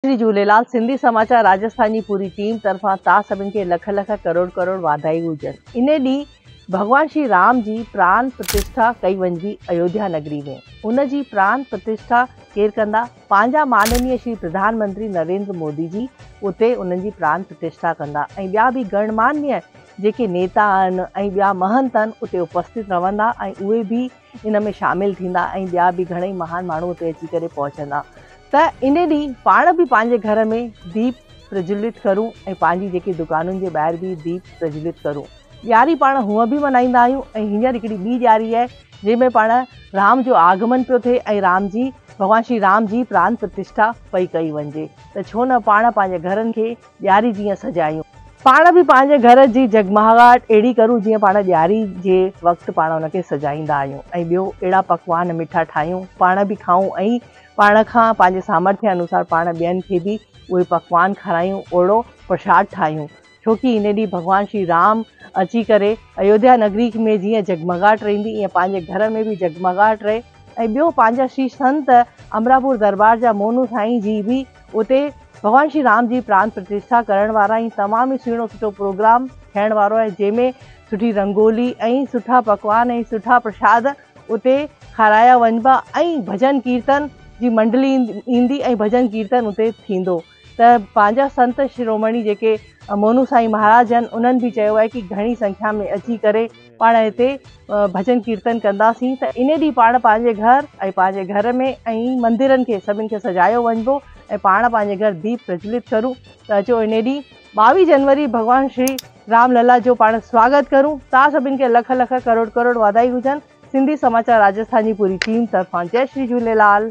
شري جهوليلال سنڌي سماچار راجسٿان جي پوري ٽيم طرفان تان سڀن کي لک لک ڪروڙ ڪروڙ واڌايون هجن انهي ڏينهن ڀڳوان شري رام جي پران پرتشٺا ڪئي وڃبي ايوڌيا نگري ۾ ان جي پران پرتشٺا ڪير ڪندا پنهنجا ماننيء شري پرڌان منتري نريندر مودي جي اتي انهن جي پران پرتشٺا ڪندا ۽ ٻيا به گڻ ماننيء جيڪي نيتا آهن ۽ ٻيا مهنت آهن اتي اپستت رهندا ۽ اهي به ان ۾ شامل ٿيندا ۽ ٻيا به گهڻئي مهان ماڻهو اتي اچي ڪري پهچندا ته ان ڏينهن پاڻ به پنهنجي گهر ۾ ديپ پرجولت ڪرون ۽ پنهنجي جيڪي دڪانن جي ٻاهر به ديپ پرجولت ڪرون. ڏياري پاڻ هونء به ملهائيندا آهيون ۽ هينئر هڪڙي ٻي ڏياري آهي جنهن ۾ پاڻ رام جو آگمن پيو ٿئي ۽ رام جي ڀڳوان شري رام جي پران پرتشٺا پئي ڪئي وڃجي ته ڇو نه پاڻ پنهنجي گهرن کي ڏياري جيئن سجايون. پاڻ به پنهنجي گهر جي جڳمهاڳاٽ اهڙي ڪرون جيئن پاڻ ڏياري جي وقت پاڻ ان کي سجائيندا آهيون ۽ ٻيو اهڙا پڪوان مٺا ٺاهيون پاڻ به کائون ۽ پاڻ کان پنهنجي سامرٿي انوسار پاڻ ٻين کي به اهي پڪوان کارايون اهڙو پرشاد ٺاهيون ڇوڪي ان ڏينهن ڀڳوان شري رام اچي ڪري ايوڌيا نگري ۾ جيئن جڳمهاڳاٽ رهندي ايئن پنهنجي گهر ۾ به جڳمهاڳاٽ رهي ۽ ٻيو پنهنجا شري سنت امراپور دربار جا مونو سائين جي به اتي ڀڳوان شري رام جي پران پرتشٺا ڪرڻ وارا ۽ تمام ئي سهڻو سٺو پروگرام ٿيڻ وارو آهي جنهن ۾ سٺي رنگولي ۽ سٺا پڪوان ۽ سٺا پرشاد اتي کارايا وڃبا ۽ ڀڄن ڪيرتن جي منڊلي ايندي ۽ ڀڄن ڪيرتن اتي ٿيندو ته پنهنجا سنت شرومڻي جيڪي موهنو سائين مهاراج آهن انهن به چيو آهي ڪي گهڻي سنکيا ۾ اچي ڪري پاڻ هتي ڀڄن ڪيرتن ڪنداسين ته انهي ڏينهن پاڻ پنهنجي گهر ۽ پنهنجي گهر ۾ ۽ مندرن کي سڀن کي سجايو وڃبو ۽ پاڻ پنهنجي گهر ديپ پرجولت ڪرون ته اچو انهي ڏينهن ٻاويهه جنوري ڀڳوان شري رام للا جو پاڻ سواگت ڪرون تان سڀن کي لک لک ڪروڙ ڪروڙ واڌايون هجن سنڌي سماچار راجسٿان جي پوري ٽيم طرفان جئي شري جهوليلال.